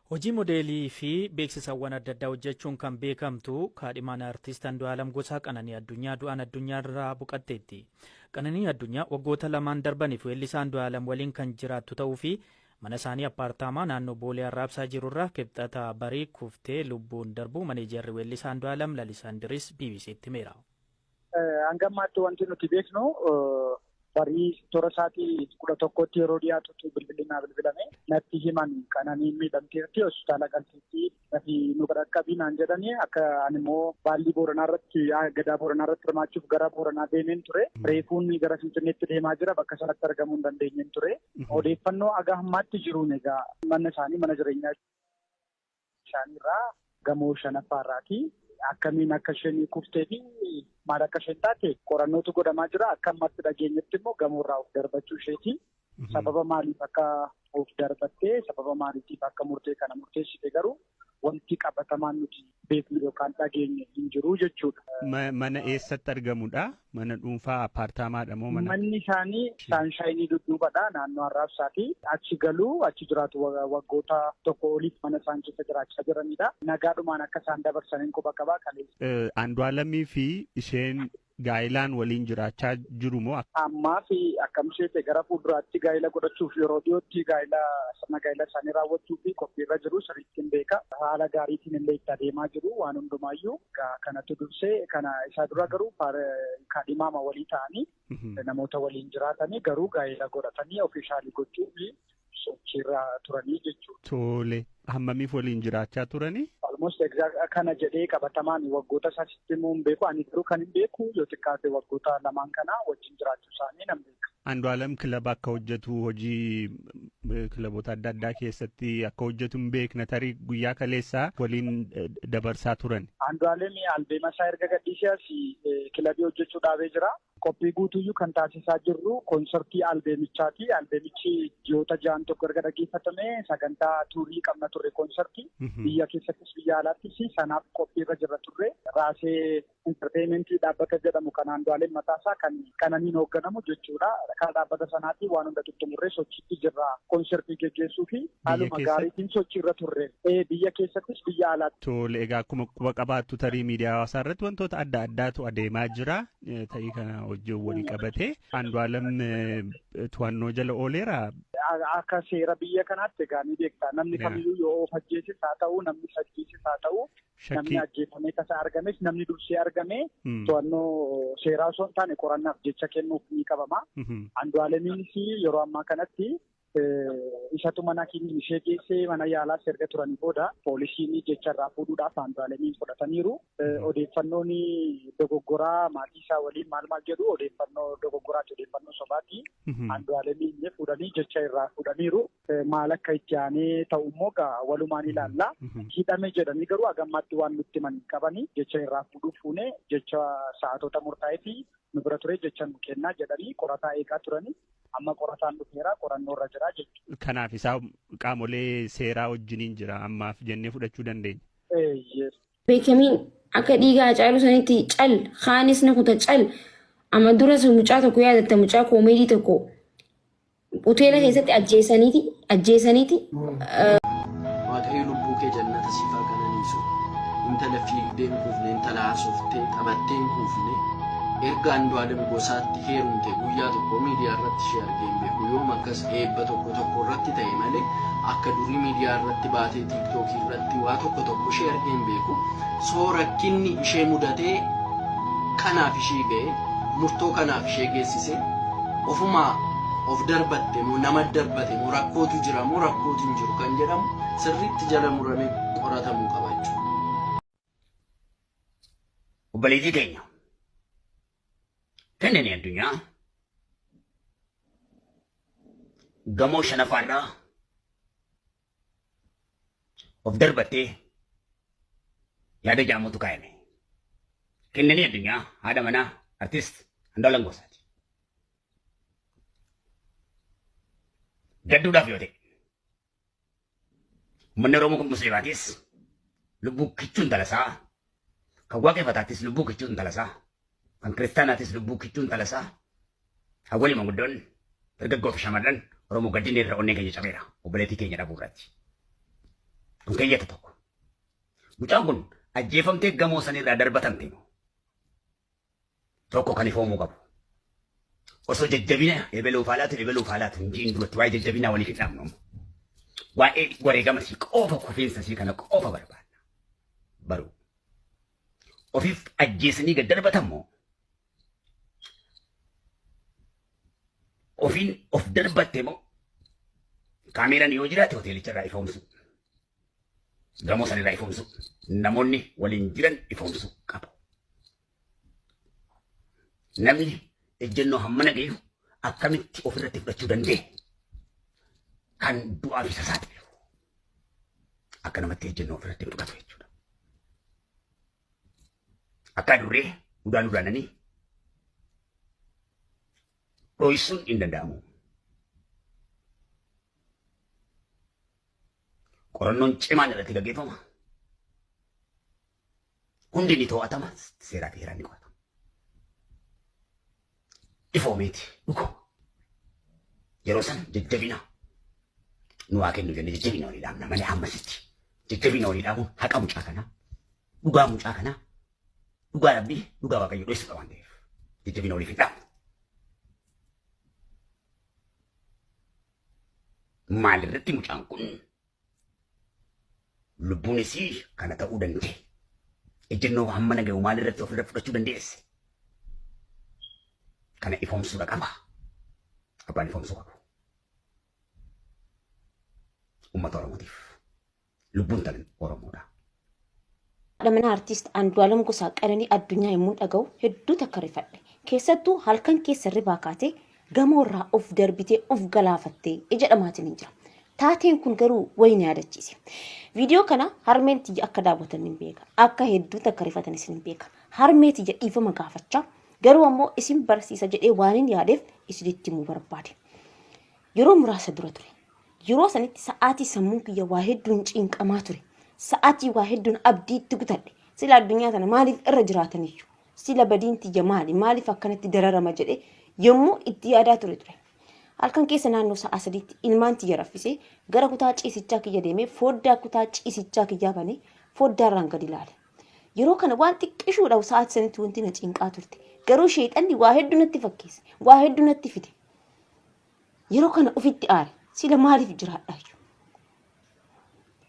Hojii modeelii fi beeksisawwan adda addaa hojjechuun kan beekamtu kaadhimaan Artiist Andu'aalam Gosaa Qananii Addunyaa du'aan addunyaarraa boqatteetti. Qananii Addunyaa waggoota lamaan darbaniif weellisaa Andu'aalam waliin kan jiraattu ta'uu fi mana isaanii appaartaamaa naannoo Boolee Arraabsaa jirurraa Kibxata barii kuftee lubbuun darbuu maneejarri weellisaa Andu'aalam Lalisaa Indiris BBC'tti himeera. Hanga ammaatti wanti nuti beeknu barii toora isaatii kudha tokkotti yeroo dhiyaatutu bilbilli naa bilbilame natti himan kan ani miidhamteerti hospitaala galteetti nafi nu qaqqabii naan jedhani akka ani immoo baallii booranaa irratti gadaa booranaa irratti hirmaachuuf gara booranaa deemeen ture reefuun gara finfinneetti deemaa jira bakka sanatti argamuu hin dandeenyeen ture odeeffannoo aga ammaatti jiruun egaa mana isaanii mana jireenyaa Bishaanii irraa gamoo shanaffaa irraati. Akkamiin akka isheen kuftee fi maal akka isheen taate qorannootu godhamaa jira. Akka ammatti dhageenyetti immoo gamoo irraa of darbachuu isheeti. Sababa maaliif akka of darbattee sababa maaliitiif akka murtee kana murteessite garuu wanti qabatamaan nuti beeknu yookaan dhageenye hin jiru jechuudha. Mana eessatti argamudha? Mana dhuunfaa appaartaamaa dha moo mana? Manni isaanii saanshayinii dudduuba dha naannoo arraabsaa fi achi galu achi jiraatu waggoota tokko oliif mana isaan keessa jiraachaa jiranidha. Nagaadhumaan akka isaan dabarsaniin quba qabaa kaleessa. Andu'aalamii fi isheen gaa'ilaan waliin jiraachaa jiru moo? Ammaa fi akkam isheete gara fuulduraatti gaa'ila godhachuuf yeroo dhiyootti gaa'ila sirna gaa'ila isaanii raawwachuu fi qophiirra jiru sirrii. ittiin beeka. Haala gaariitiin illee itti adeemaa jiru waan hundumaayyuu kanatu dursee kana isaa dura garuu kaadhimaama walii ta'anii namoota waliin jiraatanii garuu gaa'ela godhatanii ofiishaalii gochuu fi sochiirra turanii jechuudha. Tole hammamiif waliin jiraachaa turanii? Almost kana jedhee qabatamaan waggoota isaa sitti immoo hin beeku ani garuu kan hin beeku yoo xiqqaate waggoota lamaan kana wajjin jiraachuu isaanii namni. Andu'aalam kilaba akka hojjetu hojii kilaboota adda addaa keessatti akka hojjetu hin beekna tarii guyyaa kaleessaa waliin dabarsaa turan. Andu'aalam albeema isaa erga gadhiisee as kilabii hojjechuu dhaabee jira. Qophii guutuyyuu kan taasisaa jirru koonsartii albeemichaati. Albeemichi ji'oota ja'an tokko erga dhaggeeffatame sagantaa tuurii qabna turre koonsartii. Biyya keessattis biyya alaattis sanaaf qophii irra jirra turre. Raasee Intarteeyimentii dhaabbata jedhamu kan Andu'aalem Mataasaa kan Qananiin hoogganamu jechuudha. Karaa dhaabbata sanaatiin waan hunda xumurree sochiitti jirra. Konsertii geggeessuu fi haaluma gaariitiin sochiirra turre. Biyya keessattis biyya alaatti. Tole egaa akkuma quba qabaattu tarii miidiyaa hawaasaa irratti wantoota adda addaatu adeemaa jira. Ta'ii kana wajjin wal qabatee Andu'aalem to'annoo jala ooleera. Akka seera biyya kanaatti egaa ni beekta. Namni kamiyyuu yoo of ajjeeses haa ta'u namni ajjeeses haa ta'u Namni ajjeefamee tasa argames namni dursee argame to'annoo seeraa osoo hin taane qorannaaf jecha kennuuf ni qabama. Andu'aalemiinis yeroo ammaa kanatti isatu mana keenya ishee geessee mana yaalaas erga turanii booda poolisiin jecha irraa fuudhuudhaaf Andu'aalemiin fudhataniiru. Odeeffannoon dogoggoraa maatii isaa waliin maal maal jedhu odeeffannoo dogoggoraati odeeffannoo sobaati. Andu'aalemiin fuudhanii jecha irraa fuudhaniiru. Maal akka itti aanee ta'u immoo gaa walumaan ilaalla. Hidhame jedhanii garuu hagammaatti waan nutti himan hin qabani. Jecha irraa fuudhuuf fuune jecha sa'aatoota murtaa'ee fi nu bira ture jecha nu kennaa jedhanii qorataa eegaa turani. Amma qorataan dhufeera qorannoo irra jira jechuudha. Kanaaf isaa qaamolee seeraa wajjiniin jira ammaaf jennee fudhachuu dandeenya. Eeyyee. beekamiin akka dhiiga Hacaaluu sanitti cal kaanis ni kuta cal amma duras mucaa tokko yaadatta mucaa koomeedii tokko Hoteela keessatti ajjeesaniiti ajjeesaniiti Waaqayyo lubbuu kee jannata siif haa qananiisu. Intala fiigdee hin kuufne, intala haasoftee taphattee hin kuufne. Erga Andu'aalem Gosaatti heerumte guyyaa tokko miidiyaa irratti ishee argee hin beeku. Yoom akkas eebba tokko tokko irratti ta'e malee akka durii miidiyaa irratti baatee tiiktookii irratti waa tokko tokko ishee argee hin beeku. Soo rakkinni ishee mudatee kanaaf ishii ga'e murtoo kanaaf ishee geessise. Ofumaa of darbatte moo nama darbate moo rakkootu jira moo rakkootu hin jiru kan jedhamu sirriitti jala muramee qoratamuu qaba jechuudha. Obboleettii teenya dandeenye addunyaa gamoo shanafaarraa of darbattee yaada jaamuutu kaayame. Kennanii addunyaa haadha manaa artist Andu'aalam Goosaati. Gadduudhaaf yoo ta'e uummanni Oromoo kun musliimaatis lubbuu kichuun talasaa kan waaqeffataattis lubbuu kichuun talasaa Kan kiristaanaatis lubbuu kichuun talasaa hawwanii manguddoon dargaggoo fi shamarran Oromoo gaddinni irra onneen keenya cabeera obboleettii keenya dhabuu irratti. Kun keeyyata tokko. Mucaan kun ajjeefamtee gamoo sanirraa darbatamte immoo tokko kan ifoomuu qabu. Osoo jajjabina ebeluuf haalaatu ebeluuf haalaatu hin jiin duratti waa'ee jajjabinaa waliif hin dhaabnu. Waa'ee wareegama sii qofa kufiinsa sii kana qofa barbaanna. Baruu. Ofiif ajjeesanii gad darbatan moo ofiin of darbatte moo kaameeraan yoo jiraate hoteelicha irraa ifoomsu gamoo san irraa ifoomsu namoonni waliin jiran ifoomsu qabu. Namni ejjennoo hammana gahu akkamitti ofirratti fudhachuu danda'e kan du'aa fi sasaaxilu. akka namatti ejjennoo ofirratti hin fudhatu jechuudha. Akka adurree udaan udaananii dhooysuun hin danda'amu. Qorannoon cimaan irratti gaggeeffama. hundi ni to'atama seeraa fi heeraan ni qoratama. Ifoomeeti dhuguma. Yeroo sana jajjabina nu waa kennu jennee jajjabina walii dhaabna malee hammasitti jajjabina walii dhaabuun haqa mucaa kanaa dhugaa mucaa kanaa dhugaa rabbii dhugaa waaqayyo dho'isuudha waan ta'eef jajjabina waliif hin dhaabu. Maalirratti mucaan kun Lubbuun isii kana ta'uu danda'e. Ejjennoo hammana gahu maalirratti ofirra fudhachuu dandeesse? Kana ifoomsuudha qaba. Abbaan ifoomsuu qabu. Uummata Oromootiif. Lubbuun tan Oromoodha. Haadha manaa Artiist Andu'aalam Gosaa Qananii Addunyaa yommuun dhaga'u hedduu takka rifadhe. Keessattuu halkan keessa hirribaa kaatee gamoo irraa of darbitee of galaafatte jedhamaatiniin jira. Taateen kun garuu wayi na yaadachiise. Viidiyoo kana harmeen tiyya akka daawwatan nin beeka. Akka hedduu takka rifatanis nin beeka. Harmee tiyya dhiifama gaafachaa garuu ammoo isin barsiisa jedhee waanin yaadeef isinitti himuu barbaade. Yeroo muraasa dura ture. Yeroo sanitti sa'aatii sammuun kiyya waa hedduun cinqamaa ture. Sa'aatii waa hedduun abdii itti kutadhe. Sila addunyaa tana maaliif irra jiraataniyyu? Sila badiin tiyya maali? Maaliif akkanatti dararama jedhe yommuu itti yaadaa ture ture. Halkan keessa naannoo sa'a sadiitti ilmaan tiyya raffisee gara kutaa ciisichaa kiyya deemee fooddaa kutaa ciisichaa kiyyaa banee fooddaarraan gadi ilaale. Yeroo kana waan xiqqishuudhaaf sa'aatii sanitti wanti na cinqaa turte. Garuu sheexanni waa hedduu natti fakkeesse. Waa hedduu natti fide. Yeroo kana ofitti aare. Sila maaliif jiraadhaayyu?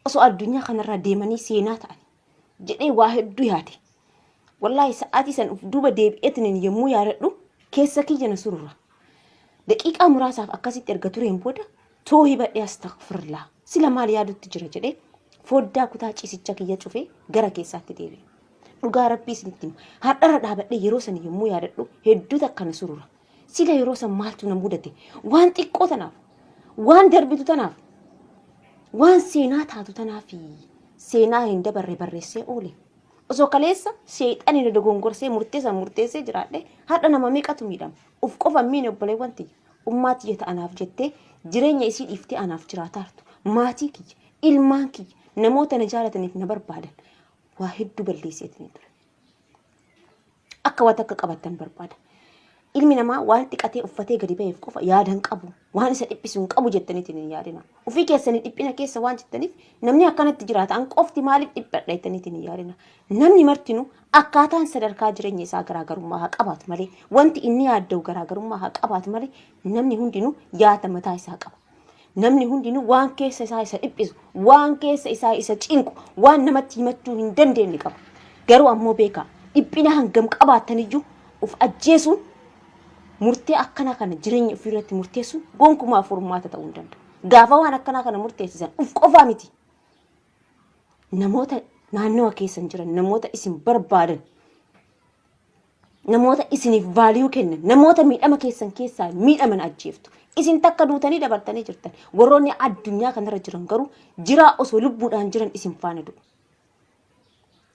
Osoo addunyaa kanarraa deemanii seenaa ta'ani. Jedhee waa hedduu yaade. Wallaahi sa'aatii san of duuba deebi'eetiniin yommuu yaadadhu keessa kiyya na surura. Daqiiqaa muraasaaf akkasitti erga tureen booda too hibadhee astagfirlaa. Sila maal yaadutti jira jedhee foddaa kutaa ciisicha kiyya cufee gara keessaatti deebi'e. Dhugaa rabbii isinitti hima. Har'arra dhaabadhee yeroo sana yommuu yaadadhu hedduu takka na surura. Sila yeroo san maaltu na mudate? Waan xiqqoo tanaaf, waan darbitu tanaaf, waan seenaa taatu tanaaf seenaa hin dabarre barreessee oole. Osoo kaleessa seexani na dogongorsee murteessan murteessee jiraadhe har'a nama meeqatu miidhama. Uf qofa hin miine obboleewwan tiyya. Ummaa tiyya ta anaaf jettee jireenya isii dhiiftee anaaf jiraataartu. Maatii kiyya, ilmaan kiyya, namoota na jaalataniif na barbaadan waa hedduu balleesseetiin ture. Akka waa takka qabattan barbaada. Ilmi namaa waan xiqatee uffatee gadi ba'eef qofa yaada hin qabu. Waan isa dhiphisu hin qabu jettaniitiin hin yaadina. Ofii keessanii dhiphina keessa waan jirtaniif namni akkanatti jiraata. An qofti maaliif dhiphadha jettaniitiin hin yaadina. Namni martinu akkaataan sadarkaa jireenya isaa garaagarummaa haa qabaatu malee wanti inni yaadda'u garaagarummaa haa qabaatu malee namni hundinuu yaada mataa isaa qaba. Namni hundinuu waan keessa isaa isa dhiphisu, waan keessa isaa isa cinqu, waan namatti himachuu hin dandeenye qaba. Garuu ammoo beekaa dhiphina hangam qabaattan iyyuu of ajjeesuun murtee akkana kana jireenya ofii irratti murteessuun gonkumaa furmaata ta'uu hin danda'u. Gaafa waan akkanaa kana murteessisan of qofaa miti. Namoota naannawa keessan jiran, namoota isin barbaadan Namoota isiniif vaaliyuu kennan, namoota miidhama keessan keessaa miidhaman ajjeeftu. Isin takka duutanii dabartanii jirtan. Warroonni addunyaa kanarra jiran garuu jiraa osoo lubbuudhaan jiran isin faana du'u.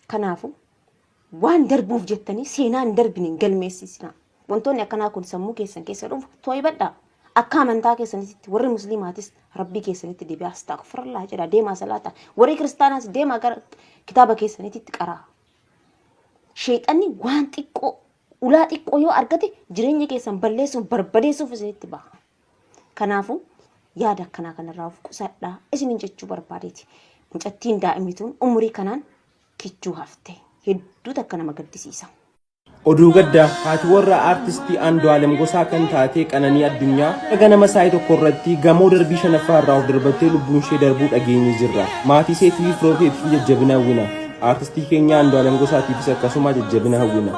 Kanaafuu waan darbuuf jettanii seenaa hin darbine hin galmeessisinaa. Wantoonni akkanaa kun sammuu keessan keessa dhufu to'ibadhaa. Akka amantaa keessanitti warri musliimaatis rabbii keessanitti deebi'aa astaghfirullah jedha deemaa salaata. Warri kiristaanaas deemaa gara kitaaba keessanitti qaraa. Sheexanni waan xiqqoo ulaa xiqqoo yoo argate jireenya keessan balleessuuf barbadeessuuf isinitti baha. Kanaafuu yaada akkanaa kanarraa of qusadhaa isinin jechuu barbaadeeti. Mucattiin daa'imni tun umurii kanaan kichuu hafte. Hedduu takka nama gaddisiisa. Oduu gaddaa haati warraa aartistii Andu'aalem Gosaa kan taate Qananii Addunyaa akka ganama saa'ii tokko irratti gamoo darbii shanaffaa irraa of darbattee lubbuun ishee darbuu dhageenye jirra. Maatii isheetii fi firoota isheetiif jajjabina hawwina. Aartistii keenya Andu'aalem Gosaatiifis akkasuma jajjabina hawwina.